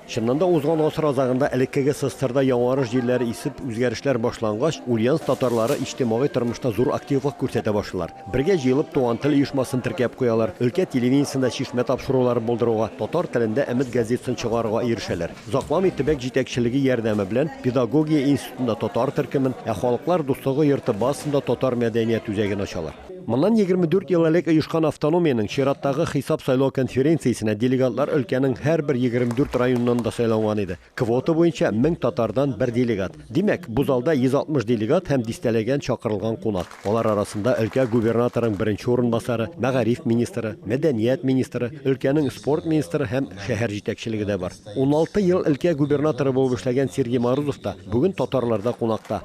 Чыннан да, узган гасыр азагында элеккеге Сыстырда яңарыш җилләре исеп, үзгәрешләр башлангач, Ульяновск татарлары иҗтимагый тормышта зур активлык күрсәтә башлыйлар. Бергә җыелып, Туган тел оешмасын теркәп куялар, өлкә телевидениесендә чишмә тапшырулары булдыруга, татар телендә Өмет газетасын чыгарырга ирешәләр. Озакламый төбәк җитәкчелеге ярдәме белән педагогия институтында татар төркемен, ә Халыклар дуслыгы йорты базасында татар мәдәният үзәген ачалар. Моннан егерме дүрт ел элек оешкан автономиянең чираттагы хисап-сайлау конференциясенә делегатлар өлкәнең һәрбер егерме дүрт районыннан да сайланган иде. Квота буенча мең татардан бер делегат. Димәк, бу залда 160 делегат һәм дистәләгән чакырылган кунак. Алар арасында өлкә губернаторының беренче урынбасары, мәгариф министры, мәдәният министры, өлкәнең спорт министры һәм шәһәр җитәкчелеге дә бар. Уналты ел өлкә губернаторы булып эшләгән Сергей Морозов та бүген татарларда кунакта.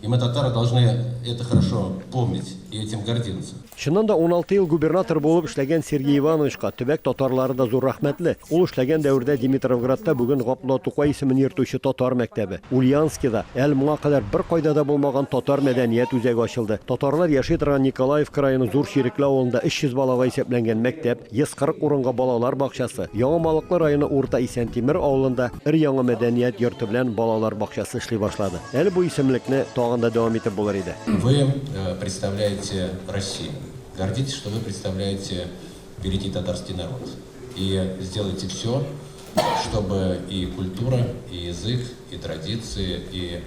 И мы, татары, должны это хорошо помнить и этим гордиться. Чыннан да, уналты ел губернатор булып эшләгән Сергей Ивановичка төбәк татарлары да зур рәхмәтле. Ул эшләгән дәвердә Димитровградта бүген Габдулла Тукай исемен йөртүче татар мәктәбе, Ульянскида, әле моңа кадәр беркайда да булмаган татар мәдәният үзәге ачылды. Татарлар яши торган Николаевка районы Зур Чирекле авылында 300 балага исәпләнгән мәктәп, 140 урынга балалар бакчасы, Яңа Малыклы районы Урта Исәнтимер авылында өр-яңа мәдәният йорты белән балалар бакчасы эшли башлады. Әле бу исемлекне тагын да дәвам итеп булыр иде. Вы представляете Россию. Гордитесь, что вы представляете великий татарский народ. И сделайте всё, чтобы и культура, и язык, и традиции, и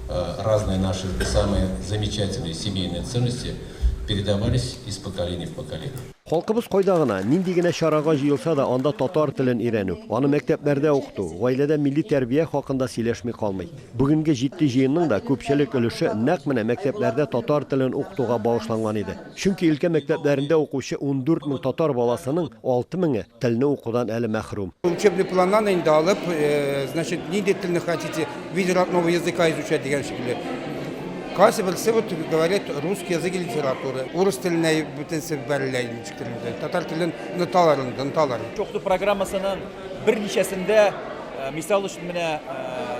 разные наши самые замечательные семейные ценности передавались из поколения в поколение. Халкыбыз кайда гына, нинди генә чарага җыелса да, анда татар телен өйрәнү, аны мәктәпләрдә укыту, гаиләдә милли тәрбия хакында сөйләшми калмый. Бүгенге җитди җыенның да күпчелек өлеше нәкъ менә мәктәпләрдә татар телен укытуга багышланган иде. Чөнки өлкә мәктәпләрендә укучы ундүрт мең татар баласының алты меңе, Телне укудан әле мәхрүм. Учебный планнан инде алып, э, значит, нинди телне хотите, виде родного языка изучать дигән шикелле. Кайсы берсе вот говорит русский язык и литература. Урыс теленә бөтенсе бәрелә инде. Татар телен ноталарын, ноталар. Чокты программасының берничәсендә Мисал өчен, менә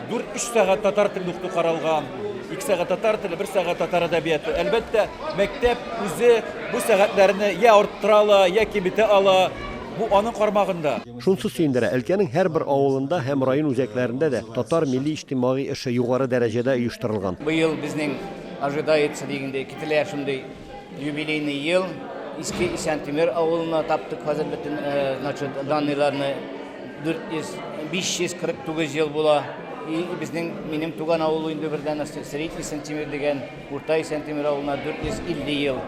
4-3 сәгать татар телендә укыту каралган, 2 сәгать татар теле, 1 сәгать татар әдәбияты. Әлбәттә, мәктәп үзе бу сәгатьләрне я арттыра ала, я киметә ала, бу аның кармагында. Шунысы сөендерә, өлкәнең һәрбер авылында һәм район үзәкләрендә дә татар милли-иҗтимагый эше югары дәрәҗәдә оештырылган. Быел безнең ожидается дигәндәй, кителә шундый. Юбилейный ел Иске Исәнтимер авылына таптык хәзер бөтен значит данныйларны 400 549 ел була. И безнең минем туган авыл инде бердән астык Средний Исәнтимер дигән Урта Исәнтимер авылына 450 ел.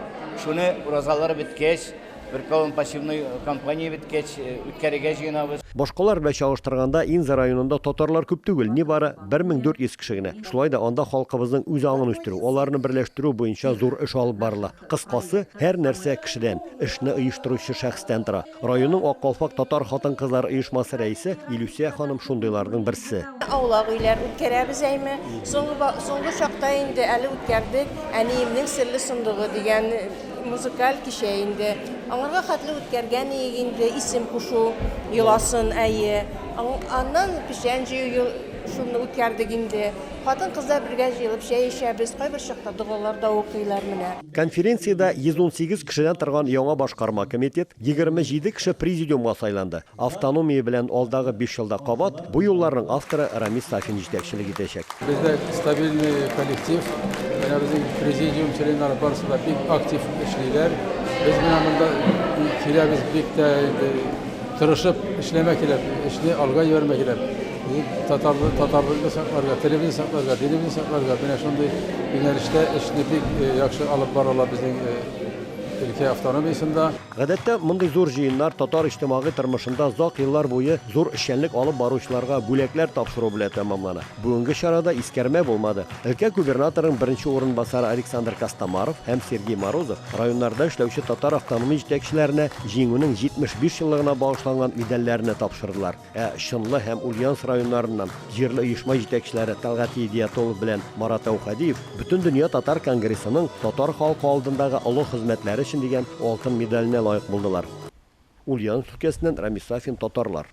Шуны уразалар беткәч, Бер колын пассивной кампания беткәч, үткәрергә җыенабыз. Башкалар белән чагыштырганда, Инза районында татарлар күп түгел, нибары 1400 кеше генә. Шулай да анда халкыбызның үз аңын үстерү, аларны берләштерү буенча зур эш алып барыла. Кыскасы, һәр нәрсә кешедән, эшне оештыручы шәхестән тора. Районның Ак калфак татар хатын-кызлары оешмасы рәисе Илүсә ханым шундыйларның берсе. Аулак өйләр үткәрәбез әйме. Соңгы чакта инде әле үткәрдек, Әниемнең серле сундугы дигән Музыкаль кичә инде. Аңарга хәтле үткәргән иек инде, исем кушу йоласын, әйе. Аннан печән җыю шуны үткәрдек инде. Хатын-кызлар бергә җыелып чәй эчәбез, кайбер чакта догалар да укыйлар менә. Конференциядә 118 кешедән торган яңа башкарма комитет, 27 кеше президиумга сайланды. Автономия белән алдагы биш елда кабат бу юлларның авторы Рамис Сафин җитәкчелек итәчәк. Бездә стабильный коллектив. Менә безнең президиум членнары барысы да бик актив эшлиләр. Без менә монда киләбез бик тә инде тырышып эшләмә кирәк, эшне алга җибәрмә кирәк. Татарлы, татарлыкны сакларга, телебезне сакларга, динебезне сакларга менә шундый юнәлештә эшне бик яхшы алып баралар безнең өлкә автономиясендә. Гадәттә, мондый зур җыеннар татар иҗтимагый тормышында озак еллар буе зур эшчәнлек алып баручыларга бүләкләр тапшыру белән тәмамлана. Бүгенге чарада искәрмә булмады. Өлкә губернаторының беренче урынбасары Александр Костомаров һәм Сергей Морозов районнарда эшләүче татар автономия җитәкчеләренә Җиңүнең 75 еллыгына багышланган медальләрне тапшырдылар. Ә Чынлы һәм Ульяновск районнарыннан җирле оешма җитәкчеләре Тәлгать Едиятуллов белән Марат Әүхәдиев Бөтендөнья татар конгрессының татар халкы алдындагы олы хезмәтләре өчен дигән алтын медаленә лаек булдылар. Ульяновск өлкәсеннән Рамис Сафин татарлар.